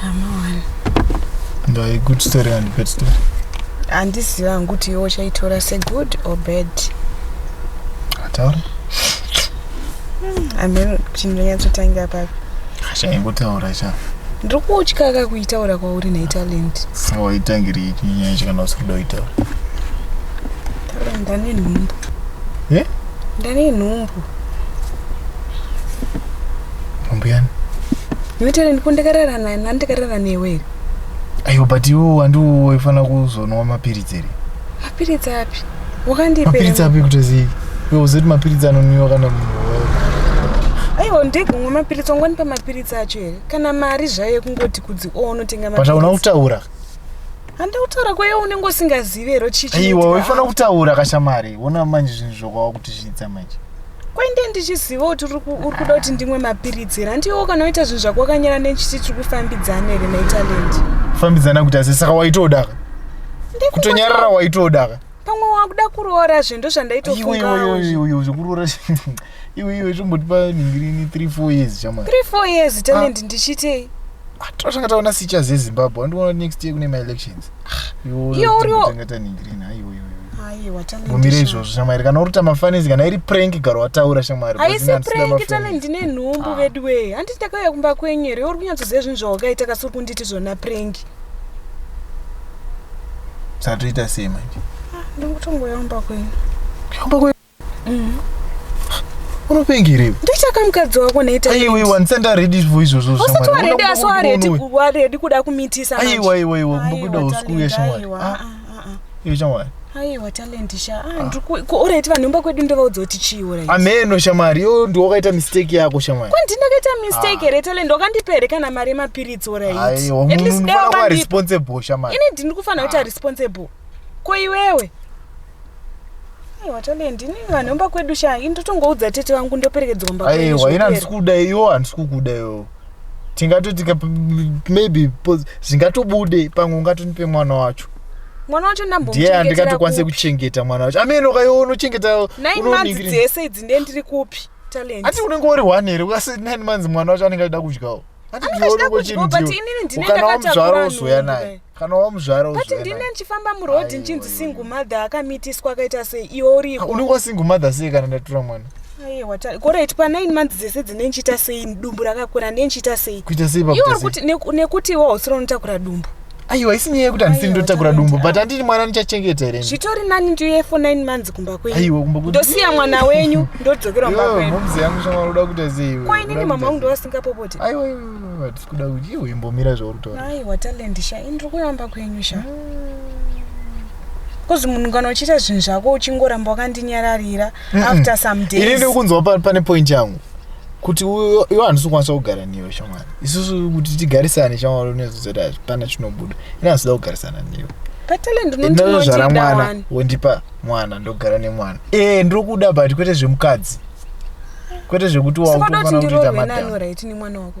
hama wani ndai good story and bad story handiziva hangu kuti iwe uchaitora segood or bad ataura ameno kuti ndinonyatsotangira papi chaingotaura cha ndiri kutya ka kuitaura kwauri naitalent saka waitangiri ichi nyaya yacho kana usiri kuda kuitaura taura ndane nhumbu Eh? ndane nhumbu Mbuyani. Iwe tele ndikundikarara naye nandikarara newe here? Ayo but iwe wandiwo waifana kuzonwa mapiritsi here? Mapiritsi api? Wakandipe. Mapiritsi api kutozii? Iwe uzoti mapiritsi anonwiwa kana munhu aiwa ndekumwa mapiritsi wangwani pamapiritsi acho here kana mari zvayo yekungoti kudzi o oh, unotenga but hauna kutaura handautaura kwaye unenge usingazivi here chichiiwa waifanira kutaura kashamari ona manje zvinhu zvokwava kuti zviitsa manje kwende ndichiziva kuti uri kuda kuti ndimwe mapiritsi here handiwo kana oita zvinhu zvako wakanyara nechiti tiri kufambidzana here maitaland fambidzana kuti asi saka waitodaka kutonyarara waitodaka pamwe wakuda kuroora zve ndo zvandaitofungaoiwe zvekuroora iwe iwe zvombotipa ningirini three four years chama three four years talent ah. ndichiitei ah, totanga taona sicha zezimbabwe andiona next year kune maelections mumire izvozvo shamwari kana uruta mafanisi kana iri prank gara wataura shamwari aisi prank tane ndine nhumbu ah. veduwee handiti ndakauya kumba kwenyu here uri kunyatsoziva zvinhu zvawakaita kasi uri kunditi zvona prank satoita sei manje ah, ndikutongoya kumba kwenyu Mm. unopenga here ndochaka mukadzi wako naiaiwa ndisati aredi vo izvozvo usati waredi asi waredi kuda kumitisa aiwa iwa iwa kumbokuda usikuuya shamwari ah, ah, ah, iwe shamwari aiwa talent sha orit vanhu imba kwedu ndovaudza kuti chiiura ameno shamwari yo ndi wakaita mistake yako shamwari kwandi ndakaita mistake here talent wakandipere kana mari yemapiritsi oraiiatisdaaresponsible shamari ini ndini kufanira kuita responsible ko iwewe Aiwa Talent, ini vanhu vemba kwedu sha, ini ndotongoudza tete vangu ndoperekedzwa mba kwedu. aiwa ina handisi zvipere. kuda iyo handisi kukuda iyo tingatoti ka- maybe pos- zvingatobude pamwe ungatondipe mwana wacho Mwana wacho ndiye ndambomuchengetera andingatokwanise kupi? kuchengeta mwana wacho ameno kaiwo unochengeta Nine months unoningira- dzese idzi ndiye ndiri kupi? Talent. ati unenge uri one here ukasi nine months mwana wacho anenge achida kudyawo Anenge achida kudyawo, but inini ndine ndakatakurwa kana wamuzvara wozoya nhubu naye kudai. kana wamuzvara but ndine ndichifamba muroad ndichinzi single mother akamitiswa akaita sei iwe uriko ah, unenge wasingle mother sei kana ndatura mwana korit pa9 months dzese dzine ndichiita sei dumbu rakakura ne ndichiita sei kuita sei kuti nekuti iwo hausiro unotakura dumbu aiwa isi nyaya yekuti handisini ndotakura dumbu but handiri mwana ndichachengeta here zvitori nani ndiuye for 9 months kumba kwenyundosiya mwana wenyu ndodzokera kumba kwenyu mumzi yangu shamwari uda kuita sei ko inini mama wangu ndovasingapopoti aiwa kuda kuti iwe imbomira zvauri kutaura aiwa talent sha ini ndiri kuramba kwenyu sha kozi munhu kana uchiita zvinhu zvako uchingoramba wakandinyararira Mm-mm. after some ini days ndiri kunzwa pa- pane point yangu kuti uyo iwe handisi kukwanisa kugara newe shamwari isusu kuti tigarisane shamwari unezodzati hapana chinobuda ini handisi kuda kugarisana newe but talent unonzi ndinozvara unondida mwana wani wondipa mwana ndogara nemwana ee ndiri kuda but kwete zvemukadzi kwete zvekuti sikoda kuti wakutofanira kutoita ndiroorwe nani madhara right nemwana wako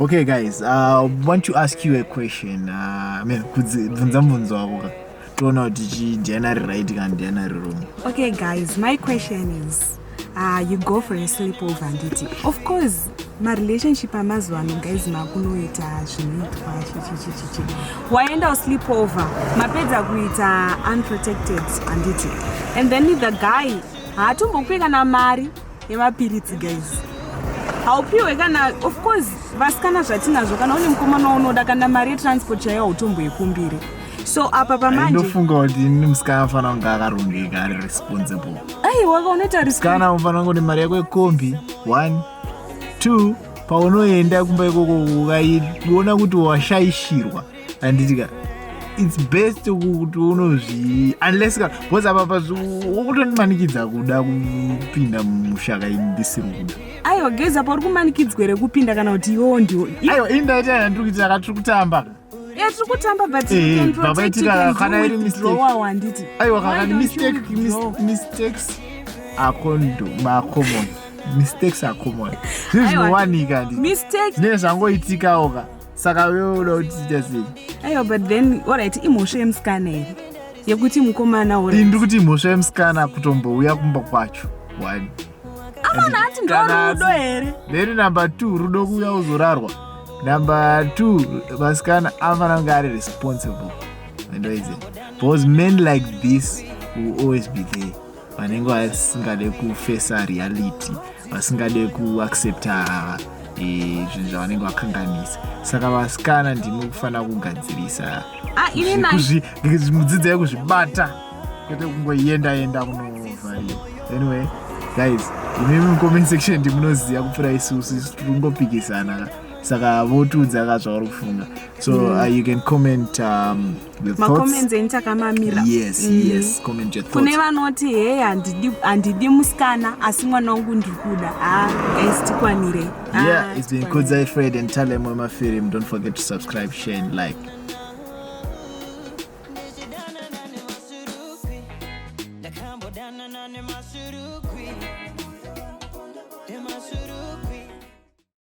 Okay guys, I uh, want to ask you a question. Uh, I mean, bvunza mvunzo wako ka. Toona kuti chi ndiana ri right kana ndiana ri wrong. Okay guys, my question is uh, you go for a sleepover handiti. Of course, ma relationship amazuva ano guys makunoita zvinoitwa chichichichichi. Waenda sleepover, mapedza kuita unprotected handiti. And then the guy haatombokupe kana mari yemapiritsi guys haupiwe kana of course vasikana zvatinazvo kana une mukomana waunoda kana mari yetransport chaiyo hautomboikumbire so apa pamanjendofunga kuti ini musikana anofanira kunge akarongeka ari responsible aiwaka unoita risikana unofanira kunge kuti mari yako yekombi one two paunoenda kumba ikoko ukaiona kuti washaishirwa anditika its best kuti unozvi unless ka bcause apa pakutondimanikidza kuda kupinda mushaka ndisiri kuda aiwa geza pauri kumanikidzwa here kupinda kana kuti iwewo ndiwo aiwa ini ndaita yana ndiri kuita ka tiri kutamba tiri kutamba butbabaitika kana iri mistakeanditi aiwa kana ni mistake mistakes akondo macommon mistakes acommon zvinhu zvinowanika ndii zvinenge zvangoitikawo ka saka wewe uda kuti tiite sei aiwa but then orit imhosva yemusikana here yekuti mukomana uri ndiri kuti imhosva yemusikana kutombouya kumba kwacho one amana ati ndorudo here then number two rudo kuuya uzorarwa number two vasikana anofana kunge ari responsible andoize because men like this will always be there vanenge vasingade kufesa reality vasingade kuaccepta e, zvinhu zvavanenge vakanganisa saka vasikana ndimi kufanira kugadzirisa ah, mudzidzai kuzvibata kwete kungoenda enda kunovhariwa anyway guys imi mucomment section ndimunoziva kupfura isusu isu tiri kungopikisana saka votiudza ka zvauri kufunga so mm. uh, you can comment um, macomments enyu takamamira yes mm. yes comment your thoughts kune vanoti hey handidi handidi musikana asi mwana wangu ndiri kuda ah guys tikwanire ah, yeah it's been kudzai fred and talem wemafilm don't forget to subscribe share and like